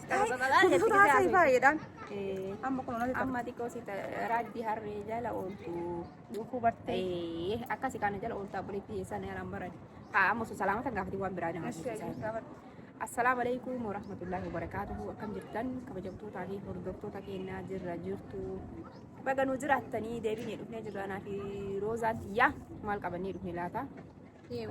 Kutusuuta haasa'e baay'eedhaan. Amma kun onatti Amma xiqqoo si raajii harree jala ooltu. dhufuu bartee. Ee, akkasi kana jala ooltu abboleetti eessaan yaalaan barate. Haa amma osoo salaamata hin gaafatin waan biraa nama Asii ajjeesaa. ajjeesu gaafadhu. Assalaamu alaikum warahmatullahi wabarakaatuhu akkam jirtan kabajamtootaa fi hordoftoota keenyaa jirra jirtu baga nu jiraattanii deebinee dhufnee jirra anaa fi roozaan tiyyaa maal qabannee dhufne laata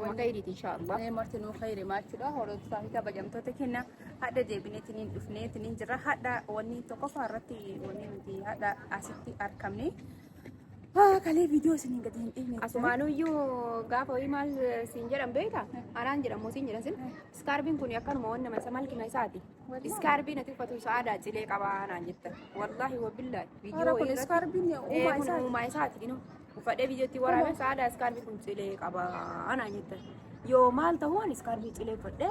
Waan gaarii inshallah. Ee martinuu khayri maachuudha hordofaa fi kabajamtoota kenna hadha deebineetiin hin dhufneetiin hin jirra hadha wanni tokkoffaa irratti wanni nuti hadha asitti argamne kalee viidiyoo isiniin gadi hin dhiifne Asumaanuyyuu gaafa ho'i maal siin jedhan beekta? Anaan jedhan moo siin jedhan sin? Iskaarbiin kun akkanuma waan nama isa malkima isaati. Iskaarbiin ati uffatu isa aadaa cilee qabaa naan jetta. Wallaahi wabillahi. Hara kun iskaarbiin uumaa isaati. Uumaa isaati. Uffadhee biyyatti waraabee sa'aadaa iskaarbii kun cilee qaba anaa jettan. Yoo maal ta'uu ani iskaarbii cilee uffadhee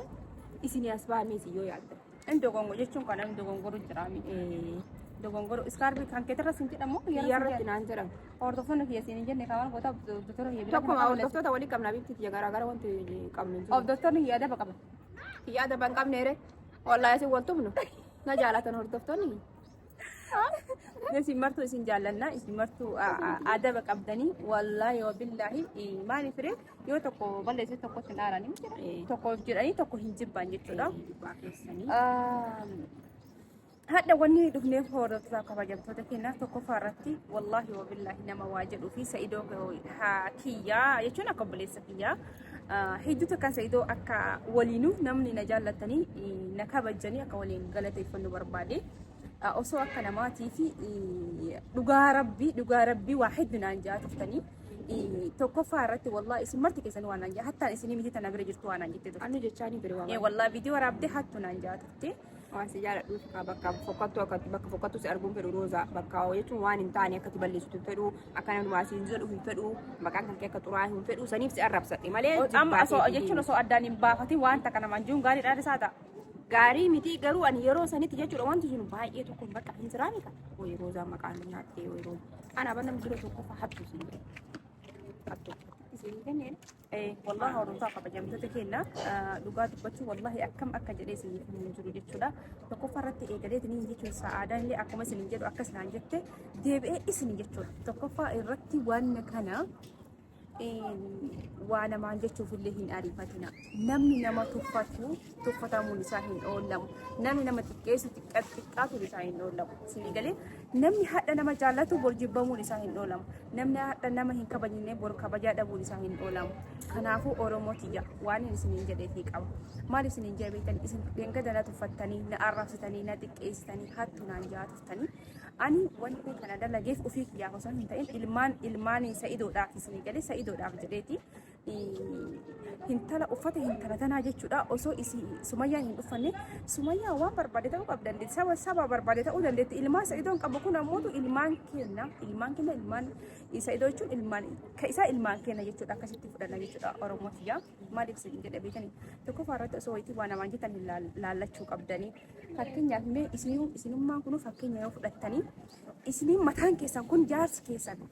isin as baamee isin yoo yaaddan. Inni dogongo jechuun kan namni dogongoro jira miidhee. Dogongoro iskaarbii kan keetirra sin jedhamu Biyyarratti naan jedhamu. Hordoftoonni kiyya siin hin jenne kaawwan goota doktora kiyya bira Tokkuma hordoftoota walii qabna bifti kiyya garaagara wanti qabnu jiru. Of doktorri kiyya adaba qaba. Kiyya adaba hin qabneere. Wallaahi isin wal tumnu. Na jaalatan hordoftoonni. Isin martuu isin jaallanna isin martuu adaba qabdanii wallaahi wabillaahi maaliif ree yoo tokko balleesse tokko hin aaranii tokko jedhanii tokko hin jibban jechuudha. Hadha wanni dhufneef hordoftoota kabajamtoota keenyaa tokkoffaa irratti wallaahi wabillaahi nama waa jedhuu fi sa'idoo kiyyaa jechuun akka obboleessa kiyyaa Hedduu takkaan sa'idoo akka waliinuu namni na jaallatanii na kabajanii akka waliin galateeffannu barbaade. Osoo akka namaatii fi dhugaa rabbii dhugaa rabbii waa hedduu naan ja'a turtanii. Tokkoffaa irratti wallaa isin marti keessan waan naan ja'a hattaan isinii miti tana bira jirtu waan naan jette turte. Ani jechaanii bira waan. Wallaa viidiyoo waraabdee hattu naan ja'a turte. waan si jaaladhuuf haa bakka fokkattu akka bakka fokkattu si arguun fedhu roozaa bakka jechuun waan hin taane akkati balleessitu hin fedhu akka nama dumaa siin jedhu hin fedhu maqaan kan kee akka xuraa'e hin fedhu saniif si arrabsadhe malee Amma jibbaatee osoo fi jechuun osoo addaan hin baafatin waan takka namaan jiruun gaarii dhaadhisaa ta'a. gaarii miti garuu ani yeroo sanitti jechuudha wanti sun baay'ee tokko bakka hin siraani kan wayii roozaa maqaan nu nyaattee wayii roozaa ana banna dura tokko fa'aa hattu siin hattu siin kenneen Wallahi hordotaa kabajamtoota keenya dhugaa dubbachuu wallahi akkam akka jedhee isin hin jiru jechuudha. Tokkoffaa irratti eegalee isiniin jechuun sa'aadaa illee akkuma isin jedhu akkas naan jette deebi'ee isin jechuudha. Tokkoffaa irratti waan kana waa namaan jechuuf illee hin ariifatina. Namni nama tuffatu tuffatamuun isaa hin oollamu. Namni nama xiqqeessu xiqqaatuun isaa hin oollamu. Isinii galee namni hadha nama jaallatu bor jibbamuun isaa hin oolamu. Namni hadha nama hin kabajne bor kabajaa dhabuun isaa hin oolamu. Kanaafuu Oromoo tiyya waan inni isiniin jedheetii qaba. Maal isiniin jedhe beektan isin dengada na tuffattanii na arrabsitanii na xiqqeessitanii hattuu naan jahaa turtanii. Ani wanti kana dalageef ofii kiyyaaf osoo hin ta'in ilmaan ilmaan sa'idoodhaaf isinii galee sa'idoodhaaf jedheeti. hintala uffata hintala tanaa jechuudha osoo isi sumayyaa hin dhuffanne sumayyaa waan barbaade ta'uu qabdi dandeetti saba saba barbaade ta'uu dandeetti ilmaan sa'idoon qabu kun ammootu ilmaan kenna ilmaan kenna ilmaan sa'idoo jechuun ilmaan ka isaa ilmaan kenna jechuudha akkasitti fudhanna jechuudha oromoo tiyyaa maaliif isin jedhe beekani tokkoffaa irratti osoo wayitii waan namaan jetan hin laal- laallachuu qabdanii fakkeenyaaf mee isinuu isinummaan kunuu fakkeenya yoo fudhattanii isiniin mataan keessan kun jaarsi keessan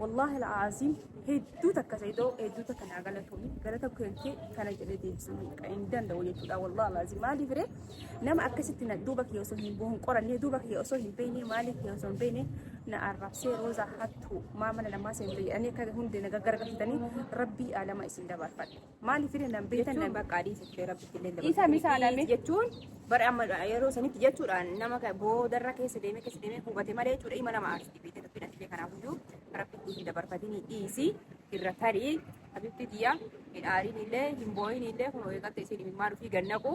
Wallaahi al'aaziim hedduu takka Saidoo hedduu takka naa galatoomi galata kee kana jedhee deebisuu hin danda'u jechuudha wallaahi al'aaziim maaliif ree nama akkasitti na duuba kee osoo hin bu'uun qorannee duuba kee osoo hin beekne maaliif kee osoo hin beekne na arrabsee roozaa hattuu maa mana namaa seente jedhanii akka hundee na gaggargatanii rabbii aalama isin dabarfadhe. Maaliif fide nan beektan nan bakka adii jettee rabbitti illee dabaltee Isa misaa mitii dhabee. jechuun bara amma yeroo sanitti jechuudhaan nama ka- boodarra keessa deemee keessa deemee hubate malee jechuudha ima nama aarsi dibee ta'e rabbina fide kanaaf iyyuu rabbitti hin dabarfatinii dhiisi irra tarii habibti tiyya hin aarin illee hin boo'in illee kun eegatte isin imimmaa dhufii gannaqu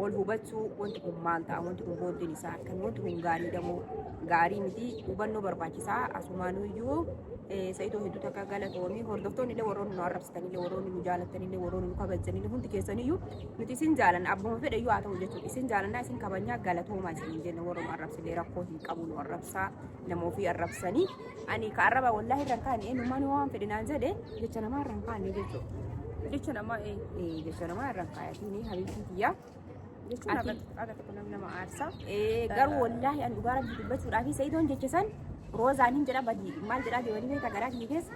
wal hubachuu wanti kun maal ta'a wanti kun booddeen isaa akkami wanti kun gaarii damoo gaarii miti hubannoo barbaachisaa asumaan iyyuu sa'itoo hedduu takka galatoomii hordoftoonni illee warroonni nu arrabsitan illee warroonni nu jaalatan illee warroonni nu kabajan illee hundi keessan iyyuu nuti isin jaalanna abbuma fedhe iyyuu haa ta'u jechuudha isin jaalannaa isin kabajnaa galatoomaa isin jenna warra nu arrabsillee rakkoo hin qabu nu arrabsaa nama ofii arrabsanii ani ka arraba wallaahi irra hin kaane eenyummaan waan fedhe naan jedhe jecha namaa irra hin kaane jechuudha. Jecha namaa ee. Ee, Jecha namaa irra hin kaayatiin habiibtii kiyyaa. Jechuun Ati- akka akka tokko nama nama aarsaa. Ee, Garuu wallaahi ani dhugaa rabbi dubbachuudhaa fi sa'idoon jecha san roozaan hin jedha badii maal jedhaa deemanii beekaa garaa kiyya keessa.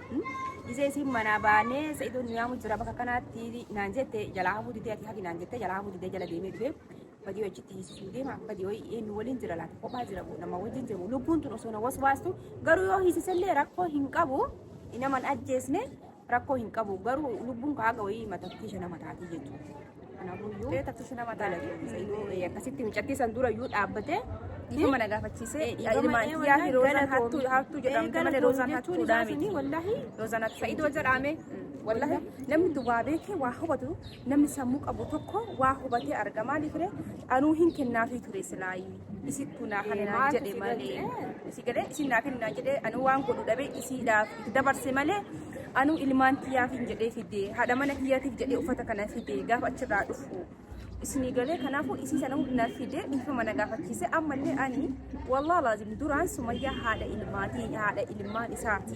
Isee isiin manaa baanee sa'idoon nu yaamu jira bakka kanaatti naan jette jalaa hafuu didee ati hafi naan jette jalaa hafuu didee jala deemee dhufee. badii achitti hiisisuu deema badii wayii eenyu waliin jira laata kophaa jira boo nama wajjin jiru lubbuun tun osoo na waswaastu garuu yoo hiisisellee rakkoo hin qabu naman ajjeesne rakkoo hin qabu garuu lubbuun kaaga wayii matattii shana mataatii jechuudha. Kanaafuu Ee, taksisi nama taate. galatoomi. akkasitti mucattii san dura iyyuu dhaabbatee dhiifama na gaafachiisee ilmaan kiyyaa fi roozaan hattuu hattuu jedhamte malee roozaan hattuudhaa miti. Wallahi roozaan hattuu Sa'idoo jedhaame wallahi namni duwwaa beekee waa hubatu Namni sammuu qabu tokko waa hubatee arga maaliif ree anuu hin kennaafii ture silaayi isittuu naa kana naan jedhe malee si galee isin naa kenna naan jedhe anuu waan godhu dhabee isiidhaaf dabarse malee anuu ilmaan kiyyaaf hin jedhee fide haadha mana kiyyaatiif jedhee uffata kana fide gaafa achirraa dhufu isinii galee kanaafuu isii sana hundumaa fide dhiifama na gaafachiise ammallee ani wallah laazim duraan sumayyaa haadha ilmaatii haadha ilmaan isaati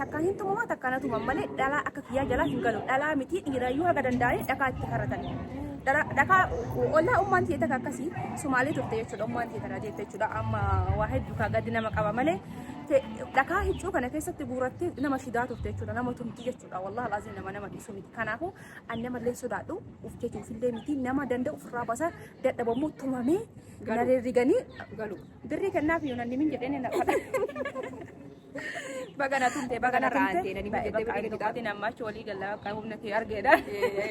takka hin tumama takka na tumama malee dhalaa akka kiyyaa jalaa hin galu dhalaa miti dhiirayyuu haga danda'anii dhakaa itti karatan dhakaa ollaa ummaan ta'e takka akkasii sumaalee turte jechuudha ummaan ta'e kana jette jechuudha amma waa hedduu kaa gaddi nama qaba malee dhakaa hiccuu kana keessatti guurattee nama shidaa turte jechuudha nama tumti jechuudha wallahi laazim nama nama dhiisu miti kanaafuu an nama illee sodaadhu uf jechuuf illee miti nama danda'u ofirraa basa dadhabamuu tumamee gareerriganii galu birrii kennaaf yoonanni min jedheen hin Baga na tumte, baga na raante. Nani baga deebi deebi taate namma achi walii galla akka humna kee argeedha.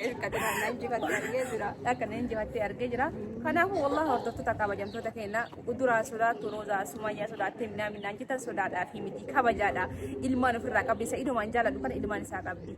Irkati na nan jifatti argee jira. Akka nan jifatti argee jira. Kanaafuu wallah hordoftoota kabajamtoota keenya uduraa sodaattu roozaa sumayyaa sodaattee minaa minaan jettan sodaadhaa fi miti kabajaadha. Ilmaan ofirraa qabdi isa idumaan jaaladhu kana ilmaan isaa qabdi.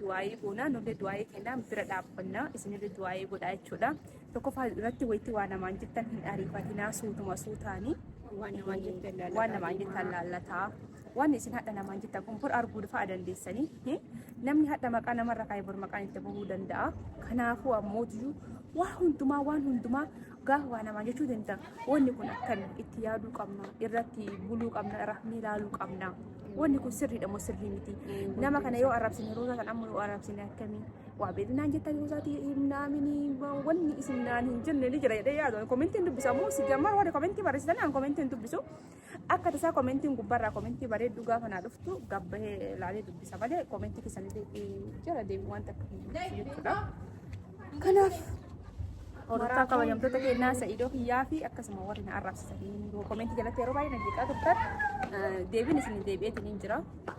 du'aa'ii goonaa nullee du'aa'ii kennaan bira dhaabbannaa isinillee du'aa'ii godhaa jechuudha. Tokkoffaa irratti wayitti waa namaan jettan hin ariifatinaa suutuma suutaanii Waan namaan jettan laalataa waan namaan deemaa. jettan laallataa. Waan isin hadha namaan jettan kun bor arguu fa'aa dandeessanii eh, namni hadha maqaa namarra kaa'e bor maqaan itti bahuu danda'a. Kanaafuu ammootiyyuu waa hundumaa waan hundumaa Dhugaa waa namaa jechuu danda'a. Wanni kun akkami itti yaaduu qabna, irratti buluu qabna, irratti ilaaluu qabna. Wanni kun sirriidha moo sirrii miti? Nama kana yoo arrabsine roozaa kan amma yoo arrabsine akkami? Waa beeknaan jettanii roozaati himnaamini wanni isin naan hin jenne ni jira jedhee yaadu. Komentiin dubbisaa moo si gammaa warri komentii barreessitan aan komentiin dubbisu. Akka tasaa komentiin gubbarraa komentii bareedduu gaafa naa dhuftu gabbahee ilaalee dubbisa malee komentii keessanillee jala deemu waan takka hin jiru jechuudha. Kanaaf hordofaa kabajamtoota keenyaa sa'idoo kiyyaa fi akkasuma warri na arrabsitanii komentii jalatti yeroo baay'ee na jeeqaa turtan deebiin isin deebi'eetiin hin jira.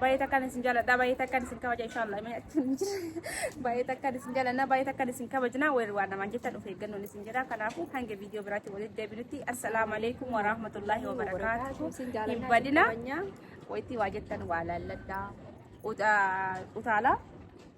Baay'ee takkaan isin jaaladha. Baay'ee takkaan isin kabaja inshaallah. Mee achi hin jira. Baay'ee takkaan isin jaalanna. Baay'ee takkaan isin kabajna. Weerri waan namaan jecha dhufe eeggannoon isin jira. Kanaafuu hanga viidiyoo biraatti walitti deebinutti assalaamu alaikum wa rahmatullahi wa barakaatuhu. Hin badina. Wayitii waa jettan waa laalladha. Uta- Utaalaa.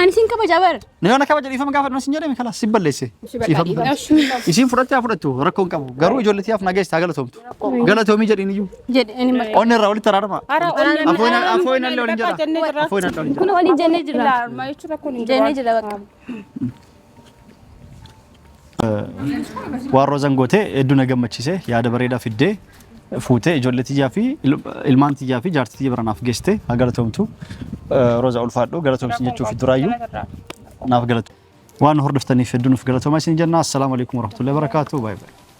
Ani sin kabaja bar. Na yoo na kabaja dhiifama gaafa dhumas hin jedhame kalaas si balleesse. Dhiifama balleesse. Isiin fudhattee haa fudhattu rakkoo hin qabu. Garuu ijoollee tiyaaf na geessaa galatoomtu. Galatoomii jedhiin iyyuu. Jedhe ani bar. Onni irraa walitti araarama. Afooyin afooyin allee waliin jedha. Afooyin allee waliin jedha. Kun waliin jennee jirra. Jennee jirra bakka. Waan roozan goote hedduu na gammachiise yaada bareedaa fiddee fuutee ijoollee tiyyaa fi il- ilmaan tiyyaa fi jaartii tiyya bira naaf geessite haa galatoomtu. Eh, Rooza ulfaadhu galatoomsi jechuuf duraayyuu naaf galatu. Waan nu hordoftaniif hedduu nuuf galatooma isin jenna. Assalaamu alaikum warahmatullahi wabarakatuh. Baay'ee baay'ee.